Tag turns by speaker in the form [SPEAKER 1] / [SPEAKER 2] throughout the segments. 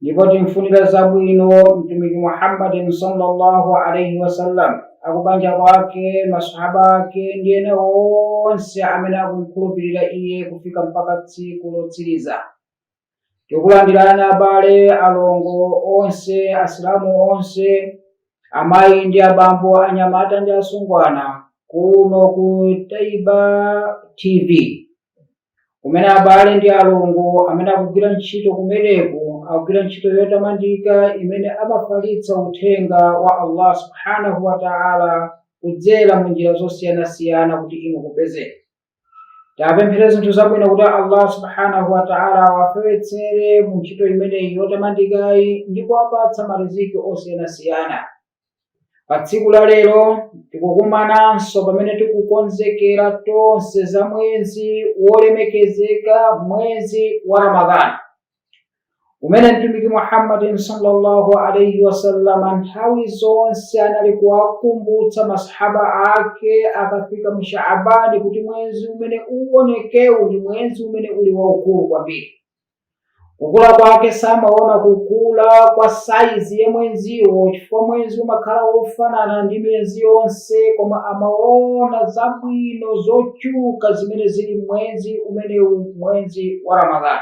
[SPEAKER 1] ndipo timfunira zabwino mtumiki muhammadin sallallahu alaihi wasallam akubanja kwake masahaba ake ndi ena onse amene akumkhulupirira iye kufika mpaka tsiku lotsiriza tikulandirani abale alongo onse asilamu onse amayi ndi abambo anyamata ndi asungwana kuno ku taiba tv kumene abale ndi alongo amene akugwira ntchito kumeneko akugwira ntchito yotamandika imene amafalitsa uthenga wa allah subhanahu wa taala kudzera mu njira zosiyanasiyana kuti inu mupezeke taapemphere zinthu zabwino kuti allah subhanahu wa taala awafewetsere mu ntchito imeneyi yotamandikayi ndi kuwapatsa mariziki osiyanasiyana Pa tsiku la lero tikukumananso pamene tikukonzekera tonse za mwezi wolemekezeka, mwezi wa Ramadhani, umene Mtumiki Muhammadin sallallahu alaihi wasallam nthawi zonse anali kuwakumbutsa masahaba ake akafika mu Shaabani kuti mwezi umene uonekewu ndi mwezi umene uli waukulu kwambiri. kukula kwake samaona kukula kwa saizi ya mwenziwo chifukwa mwenzi umakhala wofanana ndi miyezi yonse koma amaona zabwino zochuka zimene zili mwenzi umenewu mwenzi wa ramadhani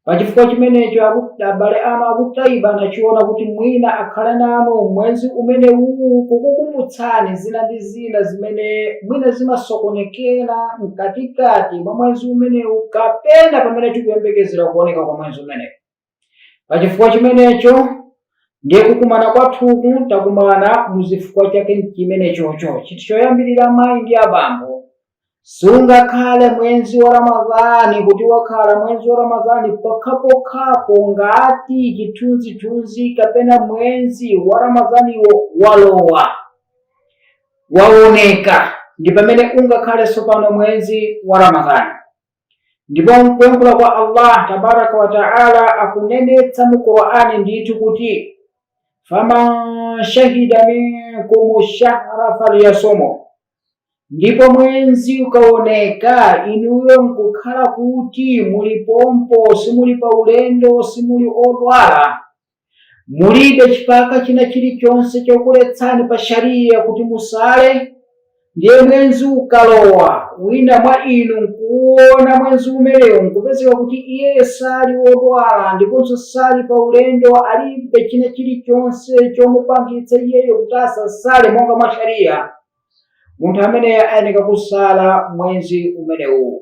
[SPEAKER 1] pachifukwa chimenecho abale anu akutaiba anachiona kuti mwina akhale nanu mwenzi umenewu kukukumbutsani zina ndi zina zimene mwina zimasokonekera mkatikati mwa mwezi umenewu kapena pamene tikuyembekezera kuoneka kwa mwezi umenewu. Pa chifukwa chimenecho ndiye kukumana kwathuku takumana mu zifukwa chake chimenechocho. Chinthu choyambirira amayi ndi abambo sungakhale mwenzi wa ramadhani kuti wakhala mwenzi wa ramadhani pokhapokhapo ngati chithunzithunzi kapena mwenzi wa ramadhaniwo walowa waoneka ndi pamene ungakhale tsopano mwenzi wa ramadhani ndipo mkuyankhula kwa allah tabaraka wataala akunenetsa mu qur'ani ndithu kuti faman shahida minkum shahra falyasumu ndipo mwenzi ukaoneka inuyo nkukhala kuti muli pompo simuli pa ulendo simuli odwala mulibe chipika china chilichonse chokuletsani pa shariya kuti musale ndiye mwenzi ukalowa wina mwa inu nkuwuona mwenzi umenewu nkupezeka kuti iye sali wodwala ndiponso sali pa ulendo alibe china chilichonse chomupangitsa iyeyo kuti asasale monga mwa shariya munthu ameneyo ayeneka kusala mwenzi umenewu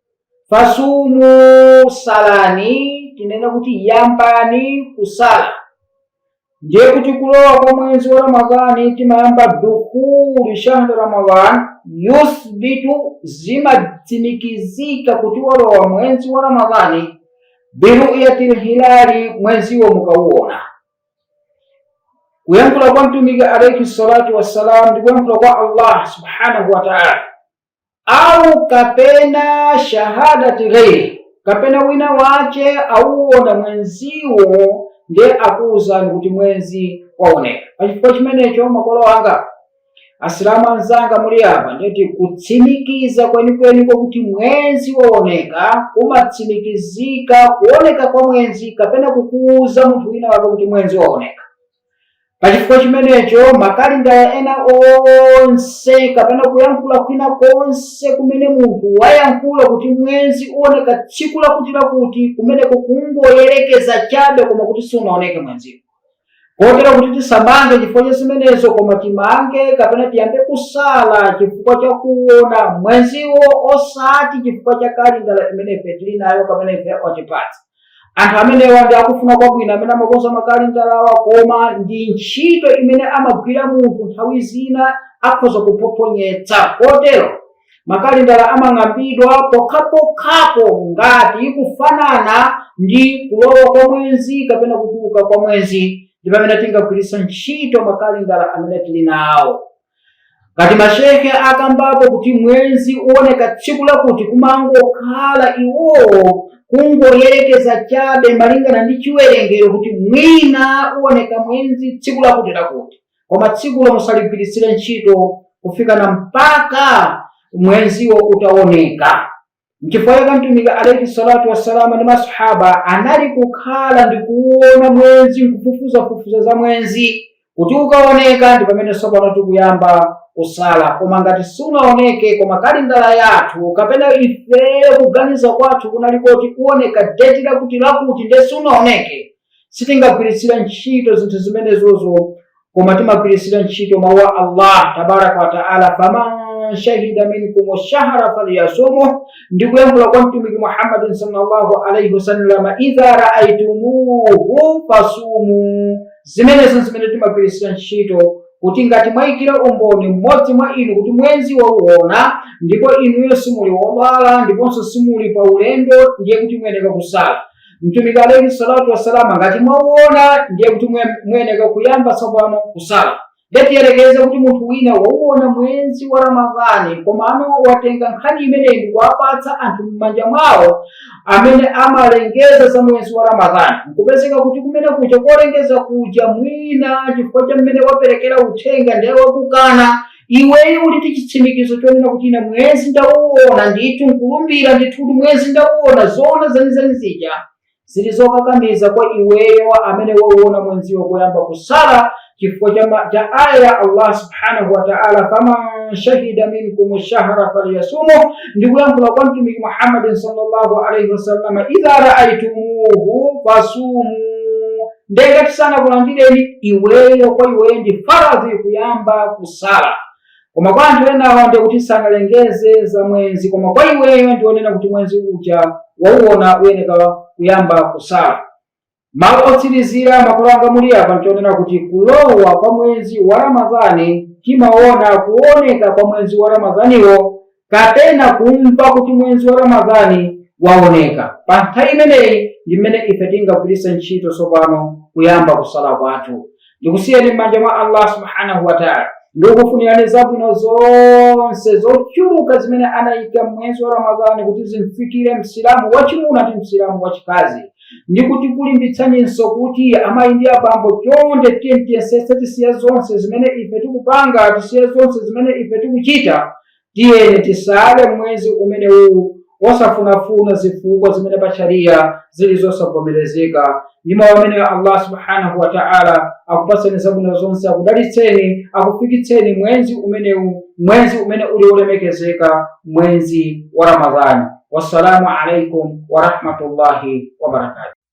[SPEAKER 1] fasumu salani tinene kuti yambani kusala ndiye kuti kulowa kwa mwezi wa ramadhani timayamba dukhulu shahri ramadhan yuthbitu zimatsimikizika kuti walowa mwezi wa ramadhani biruyati lhilali mweziwo mukauona kuyankhula kwa mtumiki alaihi salatu wassalam ndi kuyankhula kwa allah subhanahu wa taala au kapena shahadatul ghairi kapena wina wace auona mwenziwo ndiye akuwuzani kuti mwenzi waoneka pachifukwa chimenecho makolo anga asilamu anzanga muli apa ndeti kutsimikiza kwenikweni kwakuti mwenzi waoneka kumatsimikizika kuoneka kwa mwenzi kapena kukuwuza munthu wina wake kuti mwenzi waoneka pachifukwa chimenecho makalindala ena onse kapena kuyankhula kwina konse kumene munthu wayankhula kuti mwezi uoneka tsiku lakuti lakuti kumeneko kungoyerekeza chabe koma kuti siunaoneke mwenziwo kotero kuti tisamange chifukwa cha zimenezo koma timange kapena tiyambe kusala chifukwa cha kuona mwenziwo osati chifukwa cha kalindala imene ife tili nayo kapena ife watipatsa anthu amenewa ndi akufuna kwabwino amene amakonza makalendalawa koma ndi ntchito imene amagwira munthu nthawi zina akhoza kuphophonyetsa kotero makalendala amang'ambidwa pokhapokhapo ngati ikufanana ndi kulowa kwa mwezi kapena kutuluka kwa mwezi ndi pamene tingagwiritsa ntchito makalendala amene tili nawo ngati mashehe akambapo kuti mwezi uoneka tsiku lakuti kumangokhala iwowo kungoyerekeza chabe malingana ndi chiwerengero kuti mwina uoneka mwezi tsiku lakuti lakuti koma tsikulo musaligwiritsire ntchito kufikana mpaka mwenziwo utaoneka Nchifukwa chake Mtumiki alaihi salatu wassalamu ndi masahaba anali kukhala ndi kuona mwenzi nkufufuzafufuza za mwenzi kuti ukaoneka ndi pamene tsopano tikuyamba kusala koma ngati sunaoneke koma kalindala yathu kapena ifeyo kuganiza kwathu kunali koti kuoneka deti lakuti lakuti nde sunaoneke sitingagwiritsira ntchito zinthu zimenezozo koma timagwiritsira ntchito mawu a allah tabaraka wataala faman shahida minkum shahra falyasumuh ndi kuyankhula kwa mtumiki muhammadin sallallahu alaihi wasallama idha raaitumuhu fasumu zimenezo zimene timagwiritsira ntchito kuti ngati mwayikira umboni mmodzi mwa inu kuti mwezi wauona ndipo inuyo simuli wodwala ndiponso simuli pa ulendo ndiye kuti muyeneka kusala mtumiki alaihi salatu wassalam ngati mwauona ndiye kuti muyeneka kuyamba tsopano kusala nde tiyerekeze kuti munthu wina wauona mwezi wa ramadhani komano watenga nkhani imeneyi ndikuwapatsa anthu m'manja mwawo amene amalengeza za mwezi wa ramadhani nkupezeka kuti kumene kuja kolengeza kuja mwina chifukwa cha mmene waperekera uthenga ndiye wakukana iweyo uli ndi chitsimikizo chonena kuti ine mwezi ndauona ndithu nkulumbira ndithu kuti mwezi ndauona zoona zenizeni zija zili zokakamiza kwa iweyo amene wauona mwenziwo kuyamba kusala chifukwa cha aya ya allah subhanahu wa taala faman shahida minkum shahra falyasumu ndi kuyankhula kwa mtumiki muhammadin sallallahu alaihi wasallama idha raaitumuhu fasumu ndiye ngati sanakulandireni iweyo kwa iweyo ndi faradhi kuyamba kusala koma kwa anthu enawa ndiye kuti sanalengeze za mwenzi koma kwa iweyo ndionena kuti mwenzi uja wauona uyeneka kuyamba kusala mawu otsirizira makolo anga muli apa nchonena kuti kulowa kwa mwenzi wa ramadhani timaona kuoneka kwa mwenzi wa ramadhaniwo kapena kumva kuti mwezi wa ramadhani waoneka pa nthawi imeneyi ndi mmene ife tingagwiritse ntchito tsopano kuyamba kusala kwathu ndikusiyeni m'manja mwa allah subhanahu wataala ndikufunirani zabwino zonse zochuluka zimene anayika mwezi wa ramadhani kuti zimfikire msilamu wachimuna ndi msilamu wachikazi ndikukulimbitsaninso kuti amayi ndi abambo chonde tiyeni tiyesetse tisiya zonse zimene ife tikupanga tisiya zonse zimene ife tikuchita Tiyeni tisale mwezi umenewu osafunafuna zifukwa zimene pa shariya zili zosavomerezeka ndi mawu amenewa allah subhanahu wataala akupatseni zabwino zonse akudalitseni akufikitseni mwenzi umenewu mwenzi umene uli wolemekezeka mwenzi wa ramadhani wassalamu alaikum warahmatullahi wabarakatu